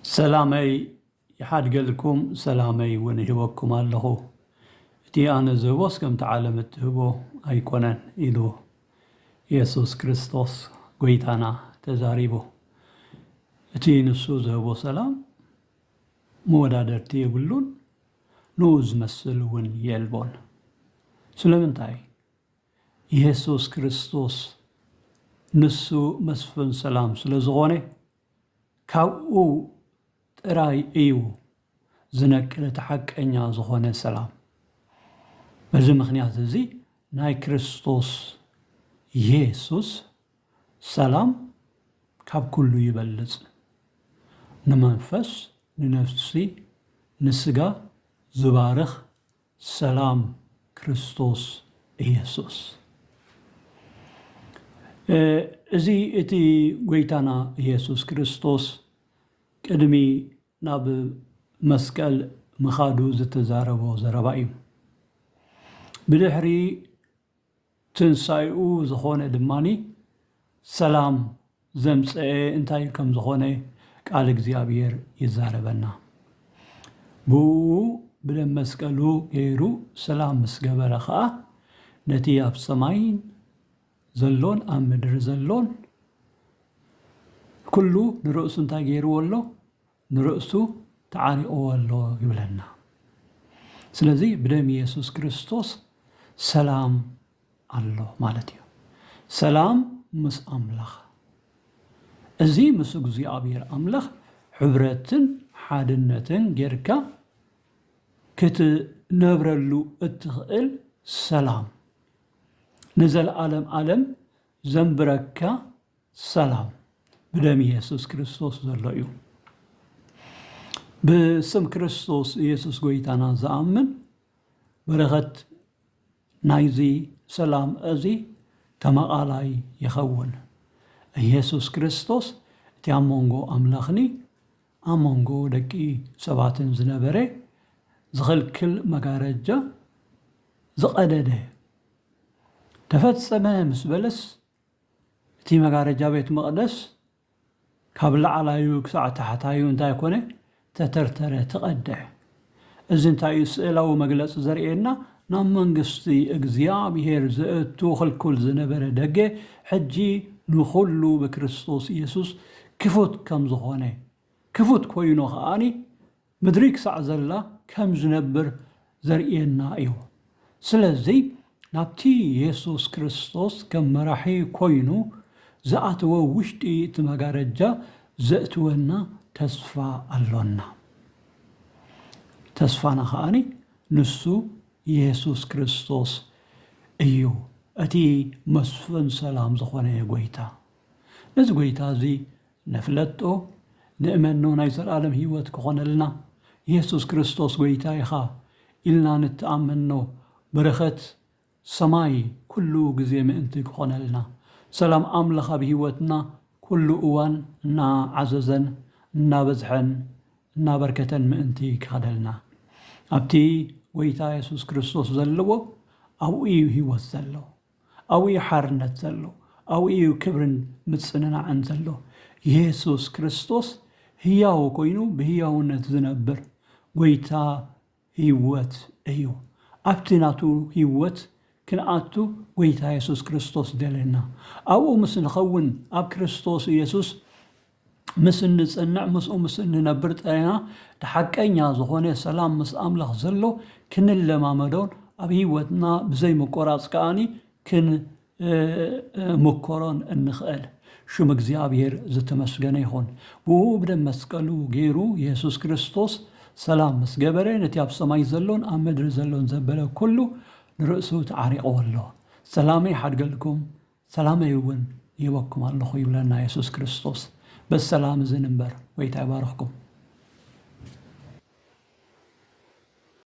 ሰላመይ ይሓድገልኩም ሰላመይ እውን እህበኩም ኣለኹ እቲ ኣነ ዝህቦስ ከምቲ ዓለም እትህቦ ኣይኮነን ኢሉ ኢየሱስ ክርስቶስ ጎይታና ተዛሪቡ እቲ ንሱ ዝህቦ ሰላም መወዳደርቲ የብሉን ንኡ ዝመስል እውን የልቦን ስለምንታይ የሱስ ክርስቶስ ንሱ መስፍን ሰላም ስለ ዝኾነ ካብኡ ጥራይ እዩ ዝነቅል እቲ ሓቀኛ ዝኾነ ሰላም በዚ ምኽንያት እዚ ናይ ክርስቶስ የሱስ ሰላም ካብ ኩሉ ይበልጽ ንመንፈስ ንነፍሲ ንስጋ ዝባርኽ ሰላም ክርስቶስ ኢየሱስ እዚ እቲ ጎይታና ኢየሱስ ክርስቶስ ቅድሚ ናብ መስቀል ምኻዱ ዝተዛረቦ ዘረባ እዩ። ብድሕሪ ትንሳኤኡ ዝኾነ ድማ ሰላም ዘምጸኤ እንታይ ከም ዝኾነ ቃል እግዚኣብሔር ይዛረበና ብእኡ ብደም መስቀሉ ገይሩ ሰላም ምስ ገበረ ከኣ ነቲ ኣብ ሰማይን ዘሎን ኣብ ምድሪ ዘሎን ኩሉ ንርእሱ እንታይ ገይርዎ ኣሎ ንርእሱ ተዓሪቕዎ ኣሎ ይብለና። ስለዚ ብደም የሱስ ክርስቶስ ሰላም ኣሎ ማለት እዩ። ሰላም ምስ ኣምላኽ። እዚ ምስ እግዚኣብሔር ኣምላኽ ሕብረትን ሓድነትን ጌርካ ክትነብረሉ እትኽእል ሰላም፣ ንዘለዓለም ዓለም ዘንብረካ ሰላም ብደም ኢየሱስ ክርስቶስ ዘሎ እዩ። ብስም ክርስቶስ ኢየሱስ ጎይታና ዝኣምን በረኸት ናይዚ ሰላም እዚ ተማቓላይ ይኸውን። ኢየሱስ ክርስቶስ እቲ ኣብ መንጎ ኣምላኽኒ ኣብ መንጎ ደቂ ሰባትን ዝነበረ ዝኽልክል መጋረጃ ዝቐደደ ተፈጸመ ምስ በለስ እቲ መጋረጃ ቤት መቕደስ ካብ ላዕላዩ ክሳዕ ታሕታዩ እንታይ ኮነ? ተተርተረ፣ ተቐድሐ። እዚ እንታይ እዩ ስእላዊ መግለጺ ዘርእየና? ናብ መንግስቲ እግዚኣብሄር ዘእቱ ክልኩል ዝነበረ ደገ ሕጂ ንኹሉ ብክርስቶስ የሱስ ክፉት ከም ዝኾነ፣ ክፉት ኮይኑ ከኣ ምድሪ ክሳዕ ዘላ ከም ዝነብር ዘርእየና እዩ። ስለዚ ናብቲ የሱስ ክርስቶስ ከም መራሒ ኰይኑ ዝኣተወ ውሽጢ እቲ መጋረጃ ዘእትወና ተስፋ ኣሎና። ተስፋና ኸኣ ንሱ የሱስ ክርስቶስ እዩ፣ እቲ መስፍን ሰላም ዝዀነ ጐይታ። ነዚ ጐይታ እዚ ነፍለጦ ንእመኖ ናይ ዘልኣለም ህይወት ክኾነልና የሱስ ክርስቶስ ጎይታ ኢኻ ኢልና ንተኣመኖ በረኸት ሰማይ ኩሉ ግዜ ምእንቲ ክኾነልና ሰላም ኣምላኽ ኣብ ህይወትና ኩሉ እዋን እና ዓዘዘን እና በዝሐን እና በርከተን ምእንቲ ክኸደልና ኣብቲ ጎይታ የሱስ ክርስቶስ ዘለዎ ኣብኡ እዩ ህይወት ዘሎ። ኣብኡ እዩ ሓርነት ዘሎ፣ ኣብኡ እዩ ክብርን ምጽንናዕን ዘሎ። የሱስ ክርስቶስ ህያው ኰይኑ ብህያውነት ዝነብር ጐይታ ህይወት እዩ። ኣብቲ ናቱ ህይወት ክንኣቱ ጐይታ የሱስ ክርስቶስ ደለየና። ኣብኡ ምስ ንኸውን ኣብ ክርስቶስ የሱስ ምስ እንጽንዕ ምስኡ ምስ እንነብር ጥራይና እቲ ሓቀኛ ዝኾነ ሰላም ምስ ኣምላኽ ዘሎ ክንለማመዶን ኣብ ሕይወትና ብዘይ ምቁራጽ ከኣ ክንምኮሮን እንኽእል። ሽም እግዚኣብሔር ዝተመስገነ ይኹን። ብእኡ ብደም መስቀሉ ገይሩ የሱስ ክርስቶስ ሰላም ምስ ገበረ ነቲ ኣብ ሰማይ ዘሎን ኣብ ምድሪ ዘሎን ዘበለ ኩሉ ንርእሱ ተዓሪቕዎ ኣሎ። ሰላመይ ሓድገልኩም። ሰላመይ እውን ይህበኩም ኣለኹ ይብለና የሱስ ክርስቶስ በዚ ሰላም እዚ ንንበር ጎይታ ይባርኽኩም።